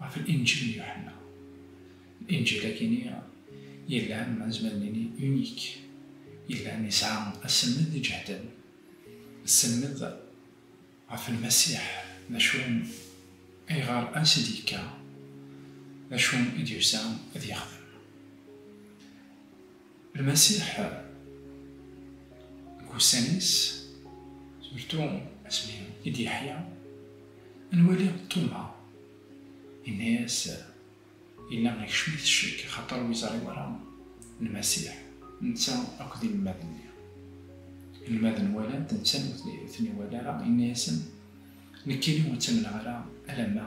Ɣef Linǧil n Yuḥenna. Linǧil akini yellan, ma nezmer nini unique, yellan yesɛa aselmed iǧehden, aselmed ɣef Lmasiḥ, d acu ayɣer ansi d-yekka, d acu i d-yusa ad yexdem. Lmasiḥ deg ussan-is, surtu asmi i d-yeḥya, nwali Tuma, yenna-as, Yella ikcem-it ccek axaṭer ur yeẓri wara Lmasiḥ, netta akked inelmaden-nni. Inelmaden walan-t, netta ur ten-iwala ara, yenna-asen, Nekkini ur ttamneɣ ara alamma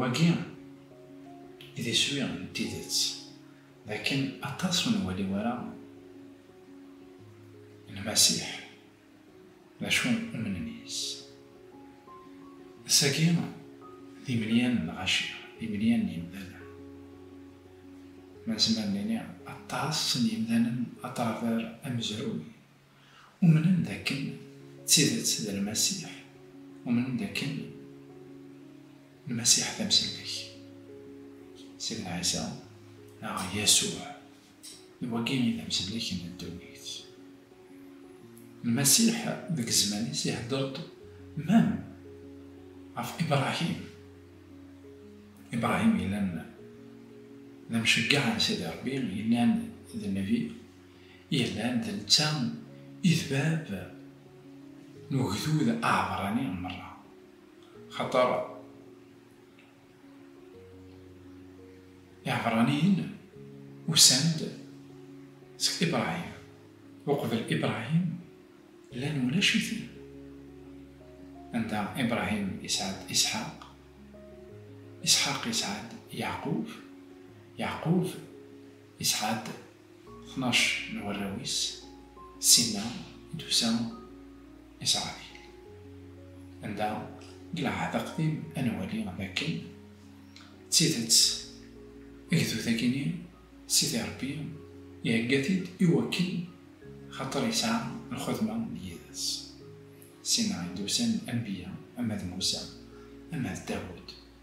Wagi d iswi n tidet, lakin aṭas ur nwali ara Lmasiḥ d acu umnen yes. Ass-agi d imelyan n lɣaci, d imelyan n yimdanen. Nezmer nini aṭas n yimdanen aṭraver amezruy. Umnen d akken d tidet d Lmasiḥ, umnen d akken Lmasiḥ d amsellek. Sidna Ɛisa, neɣ Yasuɛ, d wagi i d amsellek n ddunit. Lmasiḥ deg zzman-is ihedder-d mem ɣef Ibrahim. Ibrahim yellan d amceggeɛ n Sidi Rebbi, yellan d nnbi. Iran d netta i d bab n ugdud aɛebrani merra, xaṭer Iɛebraniyen usan-d seg Ibrahim, uqbel Ibrahim llan ulac-iten, anda Ibrahim yesɛa-d Isḥaq, Isḥaq yesɛa-d Yeɛqub, Yeɛqub yesɛa-d tnac n warraw-is, sin-a i d-tusa Isṛabil. Anda deg Lɛehd Aqdim ad nwali dakken d tidet agdud-agi-nni Sidi Ṛebbi ihegga-t-id i wakken xaṭer yesɛa lxedma yid-s. Sin-a i d-usan anbiya, ama d Musa, ama d Dawed.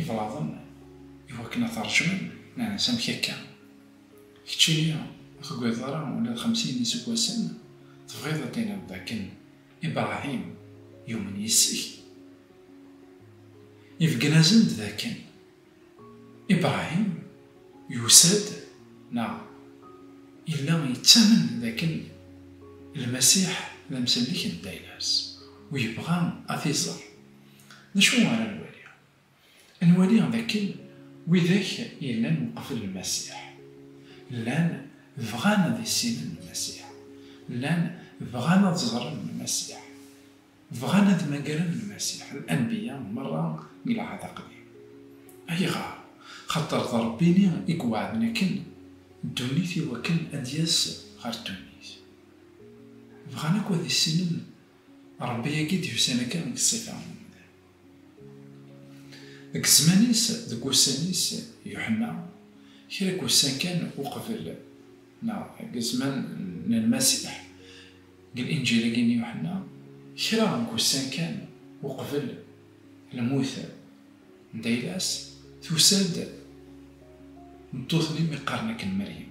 Iblaḍen iwakken ad t-rjun, s amek akka? Keččini ur tugadeḍ ara ula d xemsin n yiseggasen, tebɣiḍ ad tiniḍ d akken Ibrahim yumen yis-k? Ibeggen-asen-d d akken Ibrahim yusa-d neɣ yella yettamen d akken Lmasiḥ d amsellek n Daynas, u yebɣa ad t-iẓer. D acu ara nwali? Ad nwali d akken widak yellan uqbel Lmasiḥ, llan bɣan ad issinen Lmasiḥ, llan bɣan ad ẓren Lmasiḥ, bɣan ad mmagren Lmasiḥ, Lanbiya merra n Lɛehd Aqdim. Ayɣer? Xaṭer d Ṛebbi-nni i iweɛden akken ddunit i wakken ad d-yas ɣer ddunit. Bɣan akk ad issinen Ṛebbi-agi d-yusan akka deg ṣṣifa n umdan. Deg zzman-is, deg wussan-is, Yuḥenna, kra n wussan kan uqbel, neɣ deg zzman n Lmasiḥ, deg Linǧil-agi n Yuḥenna, kra n wussan kan uqbel lmut n Daylas, tusa-d tmeṭṭut-nni mi qqaren akken Meryem.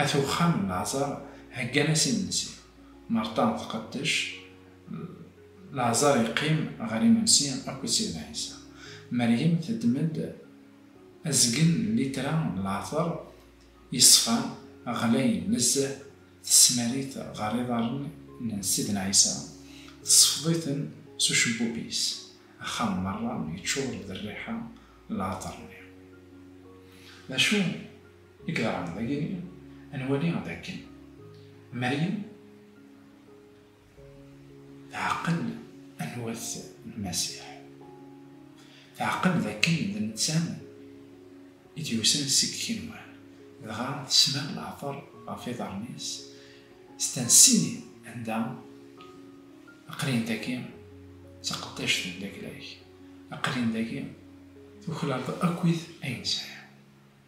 At uxxam n leɛẓar heggan-as imensi. Merṭan tqeddec, leɛẓar yeqqim ɣer imensi akked Sidna Ɛisa. Meryem teddem-d azgen n litra n leɛṭer yeṣfan, ɣlayen nezzeh, tesmar-it ɣer iḍarren n Sidna Ɛisa, tsefḍ-iten s ucebbub-is, axxam merra yeččur d rriḥa n leɛṭer-nni. D acu? I yeḍran dagi ad nwali d akken Meryem teɛqel anwa-t Lmasiḥ. Teɛqel d akken d netta i d-yusan seg yigenwan, dɣa tesmar leɛṭer ɣef yiḍarren-is s tansi anda aqlin dagi d taqeddact n laglag, aqlin dagi tuklaleḍ akkit ayen sɛiɣ.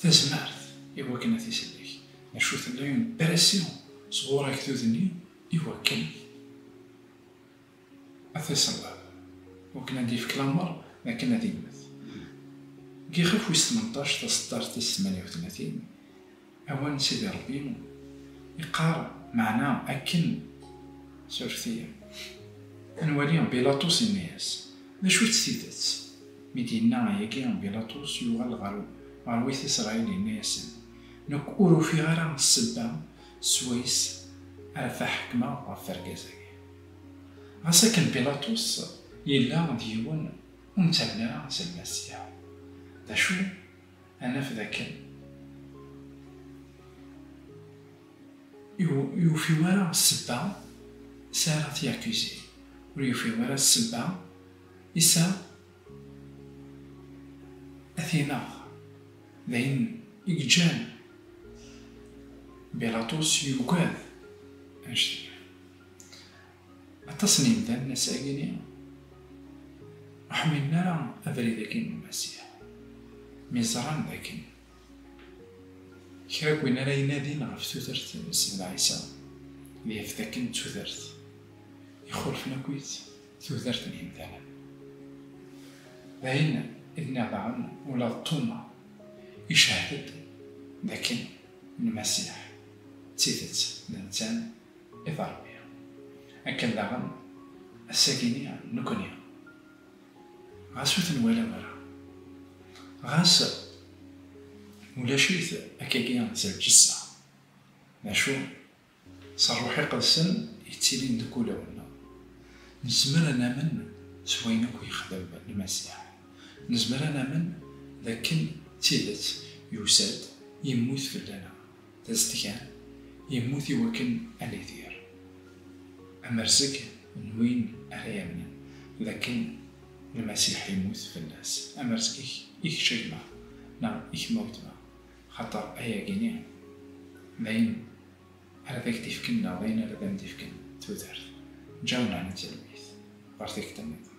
tazmart i wakken ad t-isellek, d acu tella une pression sɣur agdud-nni i wakken ad t-iṣelleb, i wakken ad d-yefk lamer d akken ad immet. Deg yixef wis tmenṭac, taseṭṭart tis tmanya u tlatin. Awal n Sidi Ṛebbi iqqar meɛna akken. Suref-iyi. Ad nwali Bilaṭus yenna-yas, D acu-tt tidet? Mi d-yenna ayagi, Bilaṭus yuɣal ɣer ɣer Wit Isṛayil yenna-yasen, Nekk ur ufiɣ ara ssebba s wayes ara faḥekmeɣ ɣef wergaz-agi. Ɣas akken Bilaṭus yella d yiwen ur nettamen ara s Lmasiḥ, d acu? Ad naf dakken ur yufi wara ssebba is ara t-yakuzi, ur yufi wara ssebba is a t-ineɣ. D ayen i yeǧǧan Bilaṭus yugad anect-nni. Aṭas n yimdanen ass-agi-ni ur ḥmilen ara abrid-agi n Lmasiḥ, mi ẓran d akken kra n win ara inadin ɣef tudert n Sidna Ɛisa, ad yaf d akken d tudert ixulfen akkit tudert n yimdanen. D ayen i d-nniɣ daɣen ula d Tuma icehhed-d d akken Lmasiḥ d tidet d netta I d-Ṛebbi. Akken daɣen, ass-agi-nni nekkni, ɣas ur ten-walaɣ ara, ɣas ulac-it akkagi s lǧessa, d acu, s Ṛṛuḥ Iqedsen yettilin deg wulawen-nneɣ, nezmer ad namen s wayen akk yexdem Lmasiḥ. Nezmer ad namen d akken d tidet yusa-d, yemmut fell-aneɣ. Tazedgan, yemmut i wakken ad nidir amerzeg n win ara yamnen d akken Lmasiḥ yemmut fell-as. Amerzeg-ik i kečč a gma neɣ i kemm a wetma, xaṭer ayagi-nni d ayen ara d ak-d-ifken neɣ d ayen ara d am-d-ifken tudert. Ǧǧaw nneɛma n talwit ɣer tikta-nniḍen.